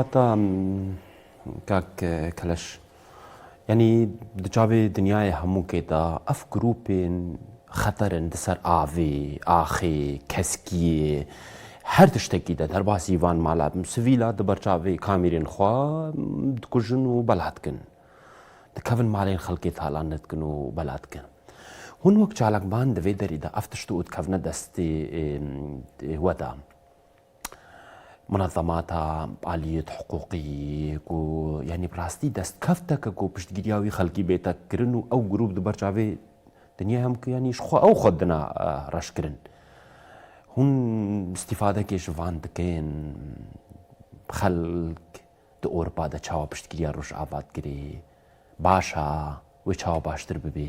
Heta kak Keleş, yanî di çavê dinyayê hemûkê de ev grûpên xeter in di ser avê, axê, keskiyê, her tiştekî de derbasî van mala sivîla di ber çavê kamîrên xwe dikujin û bela dikin. Dikevin malên xelkê talanê dikin û bela dikin. Hûn wek çalakvan di vê derî de ev tişt û dikevne destê we de. Munezemata aliyet hiqûqî ku yanî bi rastî destkevteke ku piştgiriya wî xelkî bête kirin û ew grûp di ber çavê dinya hem ku yanî ji xwe ew xwe dina reşkirin. Hûn îstîfadekê ji van dikin xelk di Ewropa de çawa piştgiriya Rojava dikirê. Baş a wê çawa baştir bibê.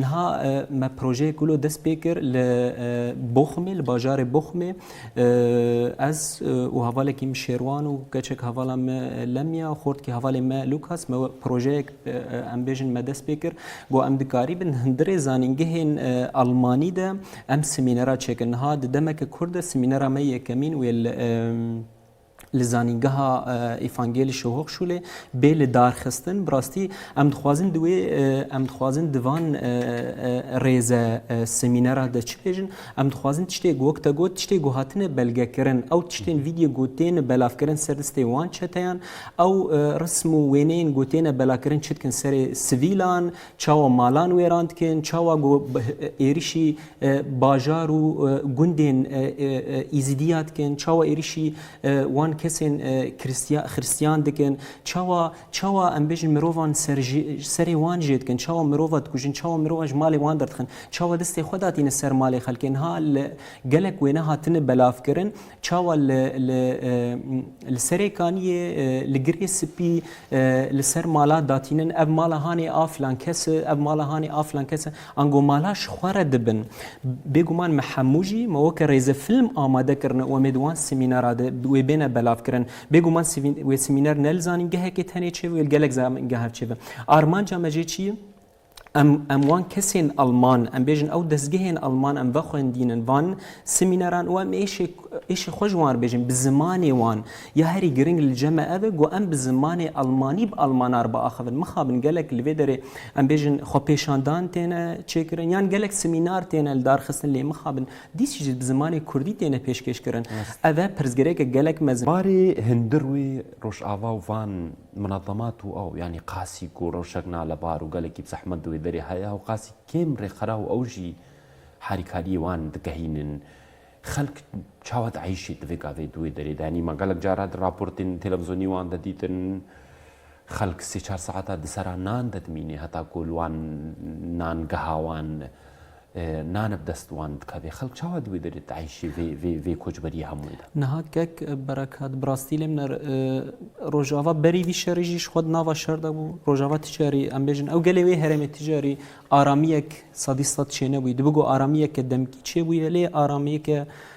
Niha me projeyê ku lo dest pê kir li Boxmê li bajarê Boxmê ez û hevalekî min Şêrwan û keçek hevala me Lemya xortkî hevalê me Lukas me projeyek em bêjin me dest pê kir ku em dikarîbin hundirê zanîngehên Elmanî de em simînera çêkin. Niha di demeke kurt de simînera me yekemîn wê li li Zanîngeha Îfangêlî Şo Hochschule bê li darxistin. Bi rastî em dixwazin di wê em dixwazin di van rêze semînera de çi bêjin, em dixwazin tiştê wek te got tiştê ku hatine belgekirin ew tiştên vîdyo ku têne belavkirin ser distê wan çeteyan ew rism û wêneyên ku têne belakirin çi dikin serê sivîlan, Çawa malan wêran dikin, çawa ku êrişî bajar û gundên Îzîdiya dikin, çawa êrişî wan kesên Xiristiyan dikin, çawa çawa em bêjin mirovan ser ji serê wan jê dikin, çawa mirova dikujin, çawa mirova ji malê wan derdixin, çawa destê xwe datîne ser malê xelkê. Niha li gelek wêne hatine belavkirin. Çawa li Serêkaniyê li girê spî li ser mala datînin ev mala hanê a filan kes e, ev mala hanê a filan kes e, ango mala ji xwe re dibin. Bêguman me hemû jî me weke rêzefîlm amade kirine û em ê di wan semînara de wê bêne belavkirin. Bêguman wê semîner ne li zanîngehekê tenê çêbe wê li gelek zanîngehan çêbe. Armanca me jê çi ye? Em em wan kesên Alman, em bêjin ew dezgehên Alman em vexwendînin van semîneran û em êşê êşê xwe ji wan re bêjin bi zimanê wan. Ya herî giring li cem e ev e ku em bi zimanê Almanî bi Almanan re biaxivin. Mixabin gelek li vê derê em bêjin xwepêşandan têne çêkirin yan gelek semînar têne lidarxistin lê mixabin dîsî jî bi zimanê Kurdî têne pêşkêşkirin. Ev e pirsgirêkek gelek mezin. Barê hundir wê Rojava û van. Minezemat û ew yanî qasî ku rewşek nale bar û gelekî bi zehmet di wê derê heye û qasî kêm rêxera û ew jî harîkariyê wan dikehînin. Xelk çawa dieyşê di vê gavê di wê derê de? Yanî ma gelek cara di raportên televizonî wan de dîtin xelk sê çar saeta di sera nan de dimîne heta ku li wan nangeha wan Naneb dest wan dikevê. Xelk çawa di wê derê de dieyşê vê koçberiyê hemûyê de? Niha kek berekat bi rastî lê min e Rojava berî vî şerî jî ji xwe di nava şer de bû. Rojava ti carî em bêjin ew gelê wê herêmê ti carî aramiyek sedî sed çênebûyî. Dibi ku aramiyeke demkî çêbûye lê aramiyeke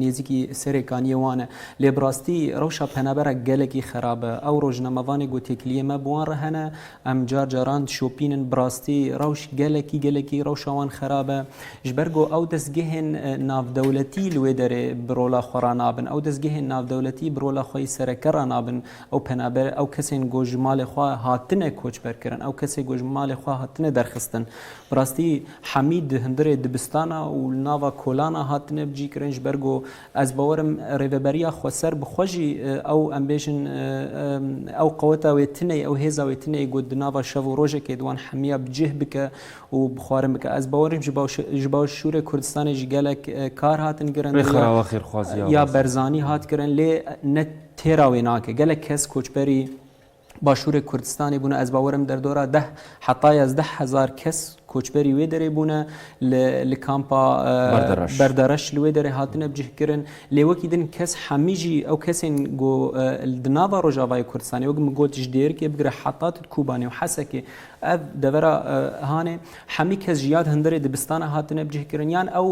Nêzîkî serê kaniyê wan e. Lê bi rastî rewşa penaberan gelekî xerab e. Ew rojnamevanê ku têkiliyê me bi wan re hene, em car caran dişopînin. Bi rastî rewş gelekî gelekî rewşa wan xerab e. Ji ber ku ew destgehên navdewletî li wê derê bi rola xwe re nabin. Ew destgehên navdewletî bi rola xwe yê sereke re nabin. Ew penaber, ew kesên ku ji malê xwe hatine koçberkirin, ew kesên ku ji malê xwe hatine derxistin. Bi rastî. Hemî di hundirê dibistana û li nava kolana hatine bicîkirin ji ber ku ez bawer im rêveberiya xweser bi xwe jî ew em bêjin ew qeweta wê tineyê ew hêza wê tineyê ku di nava şev û rojekê di wan hemiya bi cih bike û bi xwarin bike. Ez bawer im ji başûrê Kurdistanê jî gelek kar hatin kirin ya berzanî hat kirin lê ne têra wê nake. Gelek kes koçberî. Başûrê Kurdistanê bûne ez bawerim derdora deh heta yazdeh hezar kes koçberî wê derê bûne li li kampa Berdereş li wê derê hatine bicihkirin lê wekî din kes hemî jî ew kesên ku di nava Rojavayê Kurdistanê wek min got ji Dêrikê bigire heta tu Kobanê û Hesekê ev devera hanê hemî kes ji ya hundirê dibistana hatine bicihkirin yan ew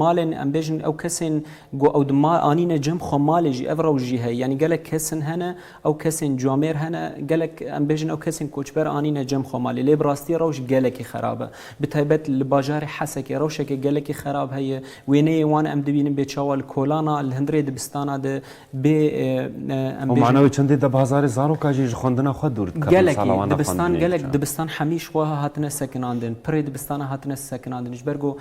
malên em bêjin ew kesên ku ew di mal anîne cem xwe malê jî ev rew jî heye yanî gelek kesin hene Ew kesên camêr hene, gelek em bêjin ew kesên koçber anîne cem xwe malê. Lê bi rastî rewş gelekî xerab e. Bi taybet li bajarê Hesekê rewşeke gelekî xerab heye. Wêneyê wan em dibînin bê çawa li kolan a, li hundirê dibistanan a de bê em bêjin. Û mane wê çendê de bi hezarê zarokan jî ji xwendina xwe dûr dikevin, sala wan nexwendinê diçin. Gelekî dibistan, gelek dibistan hemîş wiha hatine sekinandin. Pirê dibistanan hatine sekinandin. Ji ber ku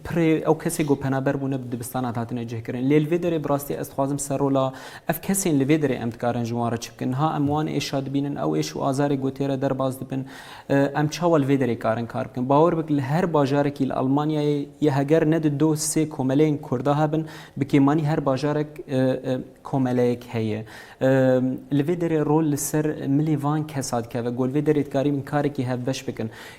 Pirê ew kesê ku penaber bûne bi dibistana hatine cihkirin. Lê li vê derê bi rastî ez dixwazim ser rola ev kesên li vê derê em dikarin ji wan re çi bikin. Niha em wan êşa dibînin, ew êş û azarê ku tê re derbas dibin. Em çawa li vê derê karin kar bikin? Bawer bike li her bajarekî li Elmanyayê ya heger ne di do sê komeleyên Kurd de hebin, bi kêmanî her bajarek komeleyek heye. Li vê derê rol li ser milê van kesa dikeve ku li vê derê dikarîbin karekî hevbeş bikin.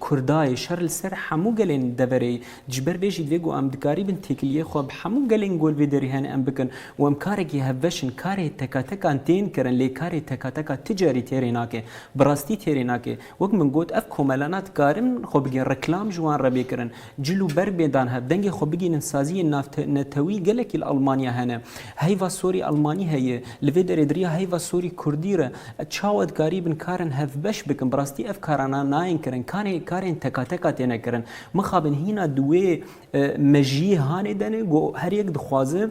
Kurdayê şer li ser hemû gelên deverê ji ber vê jî divê ku em dikarîbin têkiliyê xwe bi hemû gelên ku li vê derê hene em bikin û em karekî hevbeş in. Karê tekatekan tên kirin lê karê tekateka ti carî têrê nake. Bi rastî têrê nake. Wek min got ev komelana dikarin xwe bigihn reklam ji wan re bê kirin. Cil û berg bê dan hev, dengê xwe bigihînin saziyên navnetewî gelekî li Elmanya hene. Heyva sorî elmanî heye, li vê derê di riya heyva sorî kurdî re çawa dikarî bin karin hevbeş bikin, bi rastî ev karan a nayên kirin, kanê karên tekateka têne kirin. Mixabin hîna di wê mejiyê hanê de ne, got her yek dixwaze,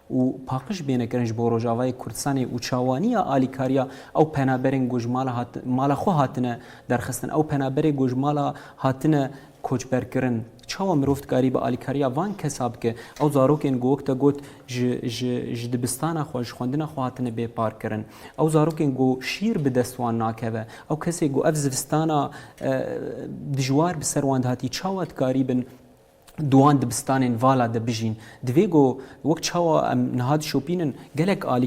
û paqij bêne kirin ji bo Rojavayê Kurdistanê û çawaniya alîkariya ew penaberên ku ji mala hat mala xwe hatine derxistin. Ew penaberê ku ji mala hatine koçberkirin çawa mirov dikarî bi alîkariya van kesa bike? Ew zarokên ku wek te got ji ji ji dibistana xwe ji xwendina xwe hatine bêparkirin. Ew zarokên ku şîr bi dest wan nakeve. Ew kesên ku ev zivistana dijwar bi ser wan dihatiye çawa dikarîbin di wan dibistanên vala de bijîn. Divê ku wek çawa em niha dişopînin gelek alî